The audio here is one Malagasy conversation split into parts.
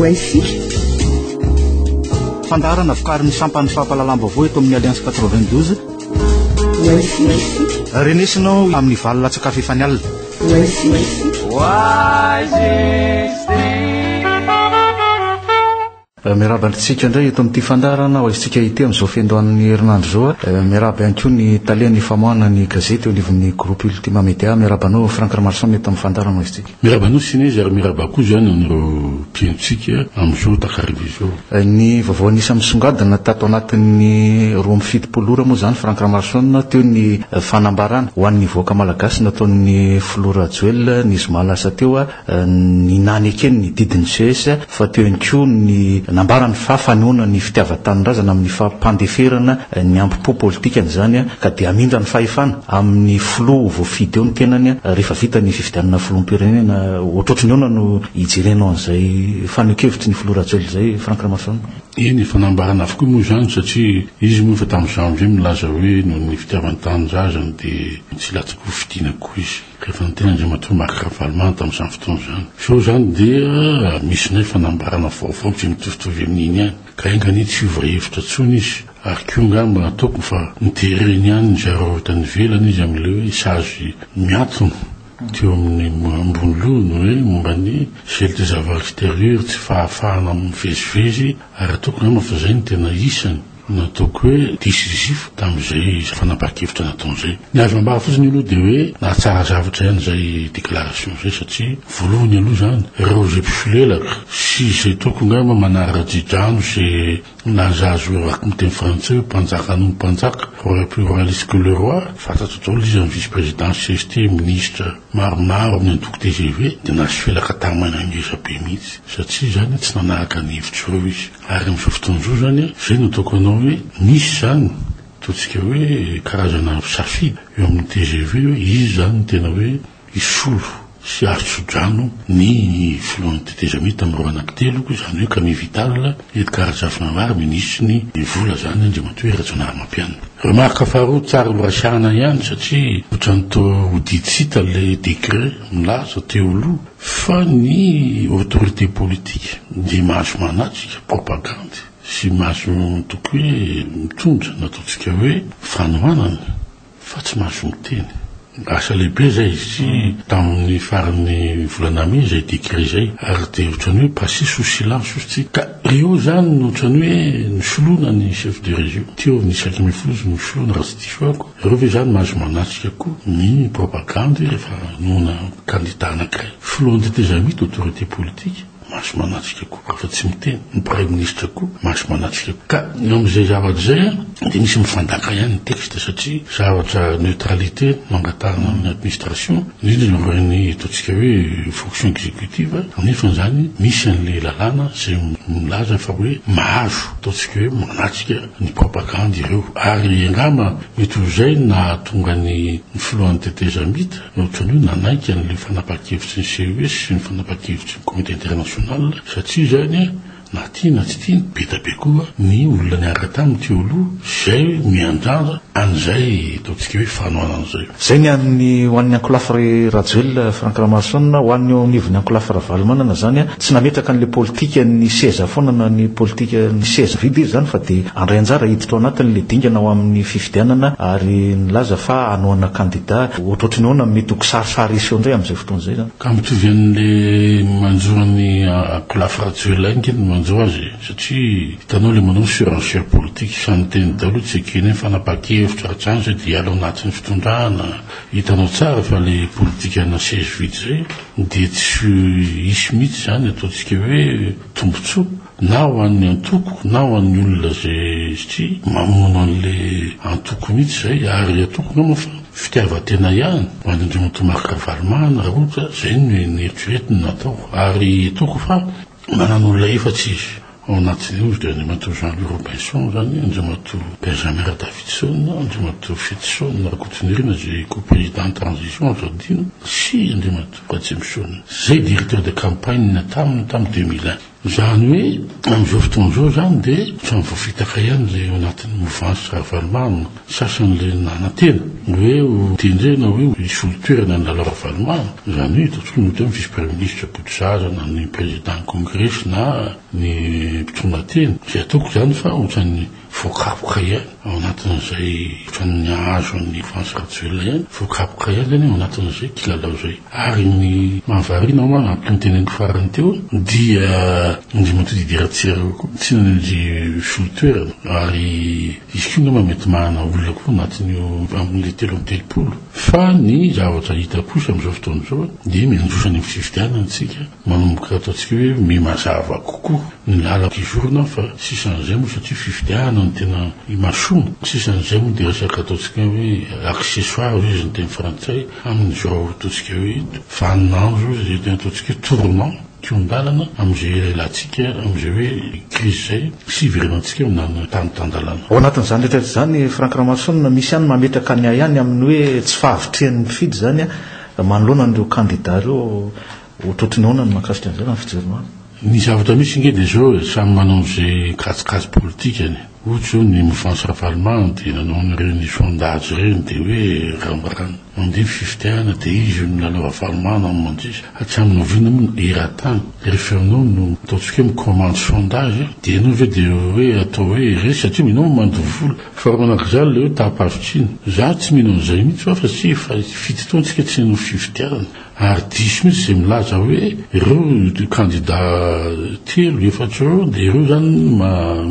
Wifi. Fandaharana vokarin'ny sampan'ny fampahalalam-baovao eto amin'ny Alliance 92. Wifi. Renesina ao amin'ny valo latsakafo efa ny alina. Wifi. Wifi. Miarahaba antsika indray eto amin'ity fandaharana ho aisintsika ity amin'izao fiandohan'ny herinandro izao. Eh, miarahaba ihany koa ny talen'ny famoahana ny gazety eo anivon'ny groupe Ultima Media. Miarahaba anao Frank Ramarson eto amin'ny fandaharana ho aisintsika. Miarahaba anao Sinezy ary miarahaba koa izany an'ireo mpihainontsika amin'izao takariva izao. Eh, ny vaovao anisany misongadina tato anatin'ny roa amby fitopolo ora moa izany Frank Ramarson teo ny eh, fanambarana ho an'ny voaka malagasy nataon'ny filoha Rajoelina ny zoma lasa teo ny nanekeny ny didin'ny ces fa teo ihany koa ny nambarany fa fanoana ny fitiavan-tanindrazana amin'ny fampandeferana ny ambo-po politikany izany ka dia hamindra ny fahefana amin'ny filoha voafidy eo ny tenany rehefa vita ny fifidianana filoham-pirenena. Ohatrohatry ny ahoana no ijerenao an'izay fanehoan-kevitry ny filoha Rajoelina izay Franck Ramasoanina? Eny efa nambarany avokoa moa izany satria izy moa efa tamin'ny janvier milaza hoe noho ny fitiavan-tanindrazany dia tsy latsaky hofidiana koa izy. Rehefa niteny Andriamatoa Marc Ravalomanana tamin'izany fotoana izany, sao izany dia misy indray fanambarana vaovao izay mitovitovy amin'iny ihany, ka enga anie tsy hiova hevitra intsony izy, ary koa angamba ataoko fa notereny ihany ny zareo avy tany ivelany izy amin'ilay hoe sazy miantona teo amin'ny ambony lohany hoe momba ny gel des avals extérieurs, tsy fahafahana mivezivezy, ary ataoko angamba fa izay no tena isany. Nataoko hoe disisif tamin'izay fanapahan-kevitra nataony izay. Ny azo ambara fotsiny aloha dia hoe nahatsara zavatra ihany izay déclaration izay satria voalohany aloha izany ireo izay mpisolelaka sy izay toako angamba manara-dri-drano sy naza azy hoe raha miteny frantsay hoe mpanjaka noho ny mpanjaka, roi plus royaliste que le roi, fantatro daholo izy amin'ny vice président cst, ministra maromaro amin'ny antoko tgv dia nahasolelaka tara-maina ngezabe mihitsy satria izany tsy nanahaka ny hevitr'ireo izy. Ary amin'izao fotoana izao izany an, izay no ataoko anao hoe misy izany, ataontsika hoe karazana safidy eo amin'ny tgv hoe iza izany no tena hoe hisolo sy hahatso-drano ny filohan'ny tetezamita amin'ny roa anaky teloko, izany hoe Camille Vital, Edgard Rajaonarimary, minisitry ny vola izany Andriamatoa Rajaonarimampianina. Remarque faharoa, tsara ho resahana ihany satria ohatran'ny toa ho didy tsy hita ilay décret milaza teo aloha Fa ny autorité politique dia mahazo manatrika propagandy sy mahazo mitoky hoe mitondra ny ataontsika hoe fanohanana fa tsy mahazo miteny. Asa lehibe izay izy ity tamin'ny faran'ny volana mey izay décret izay ary dia ohatran'ny hoe passé sous silence ozy ity ka eo izany ohatran'ny hoe nosoloina ny chef de région teo ny isaky mifozy nosoloina raha tsy diso ahy. Ianareo ve izany mahazo manatrika koa ny propagandy rehefa hanohana kandida anankiray? Filohan'ny tetezamita, autorité politique, mahazo manatrika koa rehefa tsy miteny, ny praiminisitra koa mahazo manatrika koa. Ka eo amin'izay zavatra izay dia misy mifandaka ihany ny texte satria zavatra neutralité no angatahana amin'ny administration, indrindra eo amin'ireny ataontsika hoe fonction exécutive, nefa izany misy an'ilay lalàna izay milaza fa hoe mahazo ataontsika hoe manatrika. ny propagandy ireo ary angamba mety ho izay no nahatonga ny ny filohan'ny tetezamita ny ohatran'io nanaiky an'ilay fanapahan-kevitry ny CES sy ny fanapahan-kevitry ny comité international satria izany na tia na tsy tia be dia be koa ny olona niaraka taminy teo aloha izay miandrandra An'izay ataontsika hoe fanohanana izay. Izay ny an'ny ho an'ny ankolafy ry Rajoelina Franck Ramaroson, ho an'ny eo anivon'ny ankolafy Ravalomanana izany, tsy nametraka an'ilay politikan'ny seza foana na ny politikan'ny seza vide izy izany fa dia handray anjara hiditra ao anatiny ilay dingana ao amin'ny fifidianana ary nilaza fa hanohana kandida ohatrohatry ny ahoana mety ho kisarisary hiseho indray amin'izay fotoana izay izany. Ka mitovy an'ilay manjo an'i ankolafy Rajoelina ihany ange ny manjo azy e, satria Hitanao le manao surenchère politique sa ny teniny daholo tsy ekeny hoe fanapakevitra hatrany zay de hiala ao anatin'ny fitondrana hitanao tsara fa le politikanina seize vide zay de tsy hisy mihitsy zany ataontsika hoe tombotsoa na ho an'ny antoko na ho an'ny olona zay satria mamono an'le antoko mihitsy zay ary antoko angamba fa fitiavan-tena ihany ho an'Andriamatoa Marc Ravalomanana raha ohatra zay no eritreretiny natao ary ataoko fa manana olona efatsa izy Ao anatin'ny nosy dia Andriamatoa Jean Louis Robinson izany, Andriamatoa Benjamin Radavidson, Andriamatoa Fetison Rakotonirina izay Co-Président en transition azo adino sy Andriamatoa Ratsimisoana izay Directeur de campagne taminy tamin'ny deux mille un. Izany hoe amin'izao fotoana izao izany dia ohatran'ny voafitaka ihany ilay ao anatin'ny movansy Ravalomanana. Sasan'ireny nanantena ny hoe ho tendrena hoe ho hisolo toerana an'i Lalao Ravalomanana, izany hoe hita intsony ohatra ny vice premier ministre Botozaza na ny prezidan'ny kongresy na ny mpitondra tena, izay ataoko izany fa ohatran'ny voakapoka ihany ao anatin'izay ohatran'ny hahazo an'i Francis Rajoelina ihany, voakapoka ihany izany ao anatin'izay kilalao izay. Ary ny mahavariana hoa araka ny teneniko farany teo dia indrimantodidy eratsy ireo koa tsy nisolo toerana ary Izy koa angamba mety mahana olona koa anatin'io amin'ilay telo amby telopolo. Fa ny zavatra hita kosa amin'izao fotoana izao dia miandroso any amin'ny fifidianana isika, manomboka ataontsika hoe miha mazava kokoa ny lalan-kizorana fa sisan'izay moa satria fifidianana no tena imasoana, sisan'izay moa dia resaka ataontsika hoe accessoire hoy izy ny teny frantsay amin'izao ataontsika hoe vaninandro hoy izy ireny, ataontsika hoe tournant. Kihon-dalana amin'izay ialahintsika amin'izay hoe krizy izay sy hiverenantsika aminà tany tan-dalàna. Ao anatin'izany rehetra izany, Franck Ramason, misy ihany mametraka ny ahy ihany amin'ny hoe tsy fahavitrihan'ny mpifidy izany manoloana an'ireo kandidà ireo. Ohatrohatry ny ahoana ny mahakasika an'izay raha ny fijerinao azy? Ny zavatra misy ange dia izao e, samy manao an'izay kajikajy politikany. Ohatra izao ny Mouvance Ravalomanana dia nanao an'ireny sondage ireny dia hoe rambarana. Mandeha ny fifidianana dia izy io no milalao avalomano amin'ny mandrisa. Hatramin'ny oviana moa no hiratany? Ry Fernand no ataontsika hoe mi-commande sondage e! Dia ianao ve dia hoe atao hoe irery satria mino aho mandoa vola? Fa raha manak'iza ilay hoe taham-pahavitrina? Izaho tsy mino an'izay mihitsy fa fa tsy efa fito taona isika tsy nanao fifidianana ary diso mihitsy izay milaza hoe ireo kandida telo, efatra ireo dia ireo izany no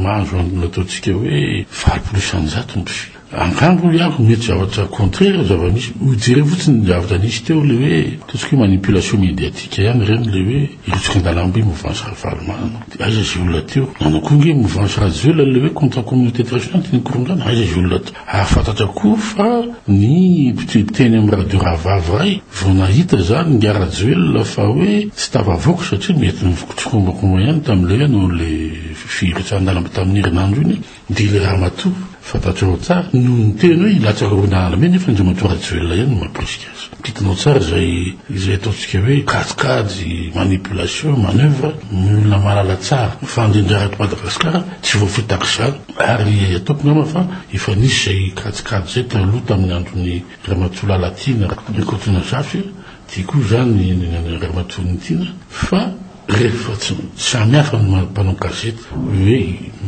mahazo an'ilay ataontsika hoe valopolo isanjato ny mpifidy. Antango hoy aho, mety zavatra contraire zava-misy, ho jereo fotsiny ny zavatra nisy teo, le hoe ataontsika hoe manipulation médiatique ihany ireny, le hoe hirotsaka an-dalambe mouvance Ravalomanana, de aiza izay olona teo, nanao koa nge mouvance Rajoelina le hoe contre communauté internationale teny Korongana, aiza izay olona teo, hahafantatra koa fa ny mpiteny amin'ny radio rahavavy iray vao nahita zany ingahy Rajoelina fa hoe tsy tafavoaka satria mety nifikotrokombakomba ihany tamin'le hoe nanao le firotsahana an-dalambe tamin'ny herinandro iny. Ndily Ramatoa, fantatrao tsara, noho ny teny hoe hilatsaky rona ala mena efa Andriamatoa Rajoelina ihany no mampirisika azy. Kitinao tsara izay izay ataontsika hoe kajikajy, manipulation, manoeuvre, ny olona mahalala tsara ny fandrindra eto Madagasikara tsy voafidy tahaka izany ary ataoko angamba fa efa nisy izay kajikajy izay taloha tamin'ny andron'i Ramatoa Lalatiana Rakotonazafy, dia koa izany Ramatoa Nitiana fa Rehefa tsy samy hafa ny mpanao gazety hoe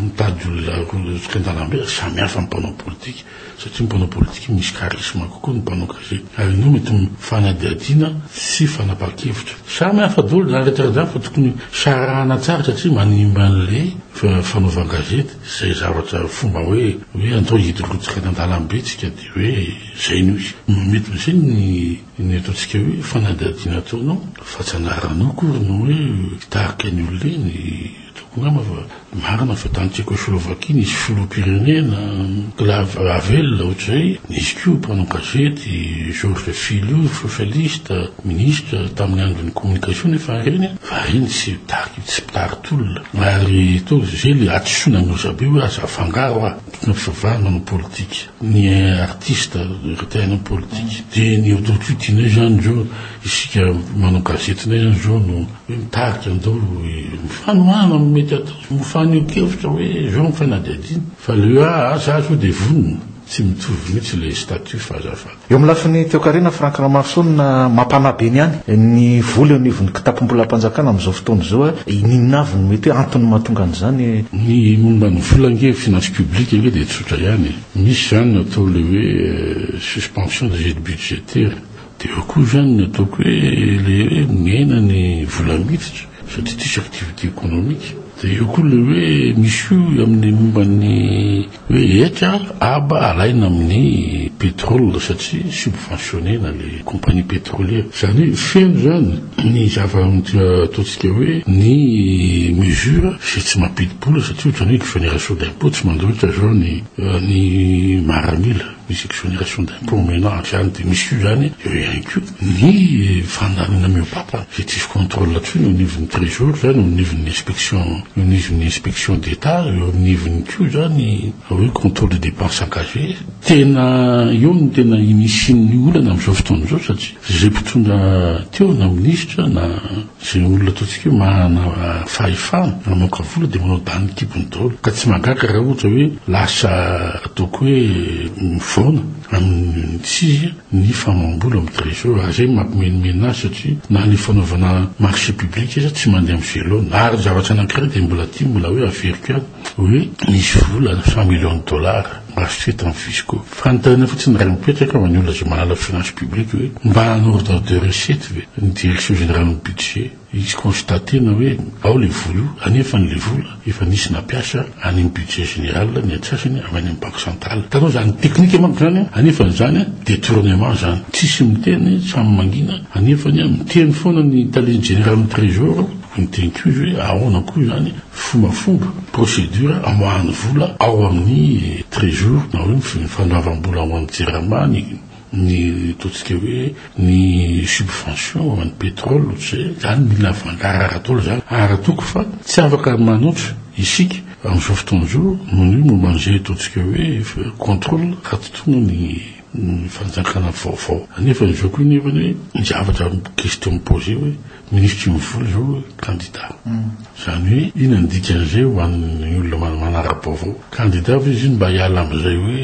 mitady olona arotsaka an-dalambe, samy hafa ny mpanao politika satria ny mpanao politika misy charisme kokoa ny mpanao gazety ary indreo mety mifanadihadiana sy fanapahan-kevitra. Samy hafa daholo izany rehetra izany fa tokony sarahana tsara satria manimba an'ilay fanaovan-gazety izay zavatra fomba hoe hoe atao hirotsaka any an-dalambe isika dia hoe izay no izy. Mety izay ny. Inona eto antsika hoe fanadihadiana ataonao fa tsy anaranao akory no hoe mpitarika ny olona eny, tokony angamba fa marina fa tany Tchecoslovaquie nisy filoham-pirenena, Clave Havel ohatr'izay, nisy koa mpanao gazety Georges Filion socialiste, ministra tamin'ny andron'ny communication nefa ireny fa ireny tsy mpitarika tsy mpitari-tolona ary toa izay ilay hadisoana an'i Mezabe hoe aza afangaro ah, antony am-pisavahana manao politika. ny artiste rehefa te haino ny politika dia ny autocutinay izany izao isika manao gazetinay izany izao no hoe mitarika andao mifanohana amin'ny mety atao sy mifaneho-kevitra hoe izao ny fanadihadiana fa le hoe aa sa sao dia vonona tsy mitovy mihitsy ilay statut fa azafady. Eo amin'ny lafiny toekarena, Franck Ramaroson, mampanahy be ny any ny vola eo anivon'ny kitapom-bolam-panjakana amin'izao fotoana izao. Inona avy no mety hoe antony mahatonga an'izany? Ny momba ny vola ange, finances publiques ange dia. Zay ihany e! Misy zany ny atao le hoe suspension des aides budgétaires, de eo koa zany ny ataoko hoe le hoe miaina ny vola miditra satria diso activité économique, de eo koa le hoe misy koa amin'ny momba ny hoe hetra aba alaina amin'ny pétrole satria subventionner-na le compagnie pétrolière, zany hoe feno zany. Ny zava-ataontsika hoe ny mesure izay tsy mampidi-bola satria ohatran'ny hoe exonération d'impôt tsy mandroitra izao ny ny maramila, misy exonération d'impôt omenao ampy ihany dia misy koa izany eo ihany koa ny fandaminana mihoa-papa izay tsisy contrôle intsony eo anivon'ny trésor izany, eo anivon'ny inspection, eo anivon'ny inspection d'Etat, eo anivon'ny koa izany hoe contrôle des dépenses engagées. Tena eo no tena inisy ny olana amin'izao fotoana izao satria. Izay mpitondra teo na minisitra na izay olona ataontsika hoe manana fahefana mamoaka vola dia manao dahany kibony daholo ka tsy mahagaga raha ohatra hoe lasa ataoko hoe mivaona amin'ny tsizy ny famaham-bola amin'ny trésor raha izay mampimenomenona azy satria na ny fanaovana marché public aza tsy mandeha amin'ny velona ary ny zavatra anankiray dia mbola aty mbola hoe averiko ihany hoe misy vola cent millions de dollars Acheter ton fisco. Fanontaniana fotsiny raha mipetraka fa ny olona izay mahalala finance publique hoe mba en ordre de recette ve ny direction générale ny budget hisy constater-na hoe ao ilay vola io anefa an'ilay vola efa nisy nampiasa any amin'ny budget général ny antsasany avy any amin'ny banque centrale. Hitanao izany technique manko izany an, anefa izany an detournement izany. Tsisy miteny, samy mangina, anefany an miteny foana ny tale ny général ny trésor. Ny teny koa hoe ahoana koa izany fombafomba, procédure, amoahany vola ao amin'ny trésor na hoe ny fandoavam-bola ao amin'ny jirama ny ny ataontsika hoe ny subvention ho an'ny pétrole ohatra izay, izany mila voangarahara daholo izany ary ataoko fa tsy afaka manoatra isika amin'izao fotoana izao noho ny hoe momba an'izay ataontsika hoe contrôle raha tsy tonga ny ny fanjakana vaovao nefa izao koa nefa ny hoe ny zavatra question mi-poser hoe Minisitry ny vola izao kandida. Izany hoe inona ny dikan'izay ho an'ny olona manara-baovao? Kandida ve izy iny mba hiala amin'izay hoe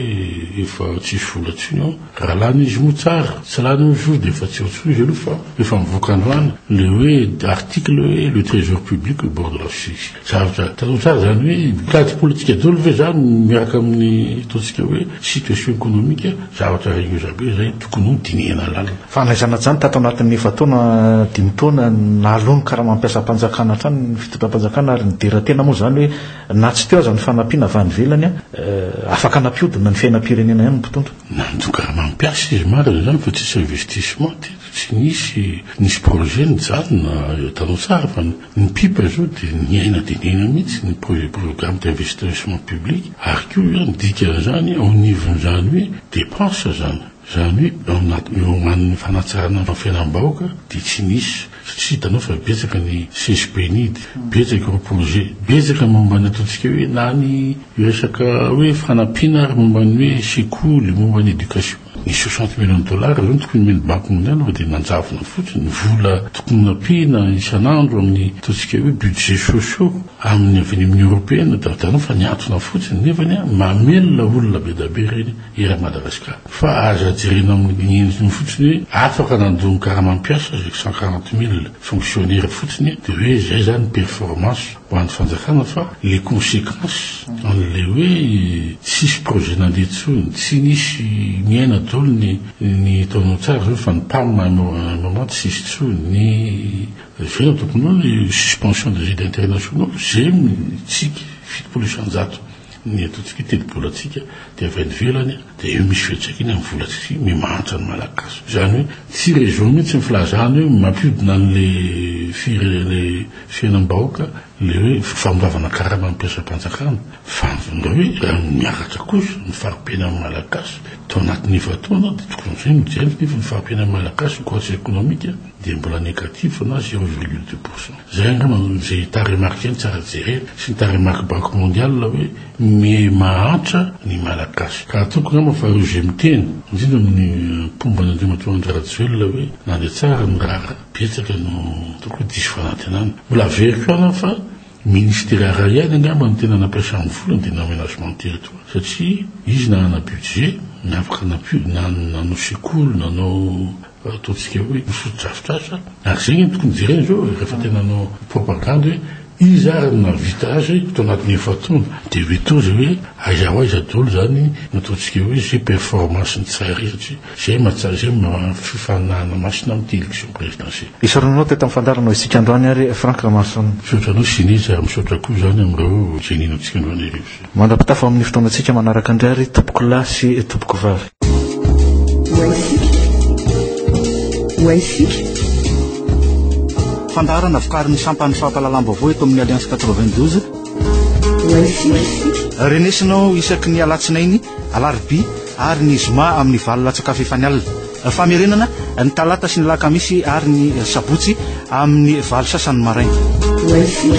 efa tsisy vola intsony ao? Raha lany izy moa tsara, tsy lany moa izy dia efa tsy eo intsony izy aloha fa efa mivoaka androany ilay hoe article hoe le trésor public au bord de la chute. Zavatra tadidiko tsara izany hoe mitady politika daholo ve izany miaraka amin'ny ataontsika hoe situation économique zavatra ragneuse be izay tokony ho dinihina lalina. Fanaizana hatrany tato anatin'ny efa-taona, dimy taona, naloa ny karamam-piasam-panjakana hatrany ny fitondram-panjakana ary nidera tena moa izany hoe na tsy teo aza ny fanampiana avy any ivelany, afaka nampihodina ny fiainam-pirenena ihany ny mpitondra. Nanjo karamam-piasa izy marina izany fa tsisy investissement teto, tsy nisy, nisy projet nijanona, hitanao tsara fa ny pipa izao dia niaina dia niaina mihitsy ny projet programme d'investissement public ary koa izany dikan'izany ao anivon'izany hoe dépenses izany. Izany hoe ao anatin'ny horomanin'ny fanatsarana ny fiainam-bahoaka dia tsy nisy satria hitanao fa betsaka ny CGPNID, betsaka ireo projet, betsaka momba ny ataontsika hoe na ny resaka hoe fanampiana ary momba ny hoe sekoly, momba ny éducation. Ny soixante millions de dollars izao no tokony omen'ny Banque mondiale fa dia nanjavona fotsiny, ny vola tokony nampiana isan'andro amin'ny ataontsika hoe budget sociaux amin'ny avy any amin'ny Européenne dia hitanao fa nihantona fotsiny nefany mamelona olona be dia be ireny. eran'i Madagasikara. Fa aza jerena amin'ny endriny fotsiny hoe afaka nandoa ny karamam-piasa izay cent quarante mille fonctionnaires fotsiny dia hoe izay izany performance ho an'ny fanjakana fa les consequences an'ilay hoe tsisy projet nandeha intsony, tsy nisy niaina daholo ny ny ataonao tsara izao fa ny pam à un moment tsy nisy intsony, ny izay no tompon'olona, io suspension des aides internationaux, zay mitsiky fitopolo isan-jato. Ny ataontsika hoe tetibolantsika dia avy any ivelany dia eo misy fiantraikany amin'ny volantsika mi mahantra ny Malagasy. Izany hoe tsy région mihitsy ny filazana hoe mampiodina an'ilay firenena fiainam-bahoaka ilay hoe famoravana karama ny mpiasam-panjakana fa ndao hoe raha miakatra kosa ny fari-piainan'ny Malagasy tao anatin'ny efa-taona dia tokony amin'izay no jerena nefa ny fari-piainan'ny Malagasy ny croissance économique dia mbola négatif na zéro virgule deux pour cent. Izay angamba no izay taremarken tsara jerena sy ny taremark banque mondiale hoe miee mahantra ny malagasy. Ka ataoko angamba fa ireo izay miteny, indrindra amin'ny mpomba an'Andriamatoa Andry Rajoelina hoe nandeha tsara ny raharaha, betsaka no ataoko hoe diso fanantenana. Mbola averiko ihany aho fa ministera iray ihany angamba no tena nampiasany vola dia ny amenagement territoire satria izy nanana budget, ny afaka nampiodina any nanao sekoly, nanao. Ataontsika hoe ny fotodrafitrasa ary zegny no tokony jerena zao rehefa te nanao propagandy hoe iza ary no nahavita azy tao anatin'ny efa-taona de hoe toa zay hoe aiza ho aiza daholo zany no ataontsika hoe zay performance ny tsara izy satria zay mahatsara zay fifaninanana masina amty election présidentielle. Isaorana anao teto amin'ny fandaharanao isika androany ary Franck Ramason. Misaotra anao Ciné, ary misaotra koa izany amin'ireo izay nino antsika androany hariva izao. Mandra-pitafa amin'ny fotoanantsika manaraka indray ary tompoko lahy sy tompoko vavy. Waisika. Fandaharana vokarin'ny sampan'ny fampahalalam-baovao eto amin'ny Alliance 92. Waisika. Renesinao isaky ny alatsinainy, alarobia ary ny zoma amin'ny valo latsak'afo efa ny alina. Famerenana ny talata sy ny lakamisy ary ny sabotsy amin'ny valo sasany maraina. Wifi.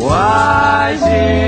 Wifi.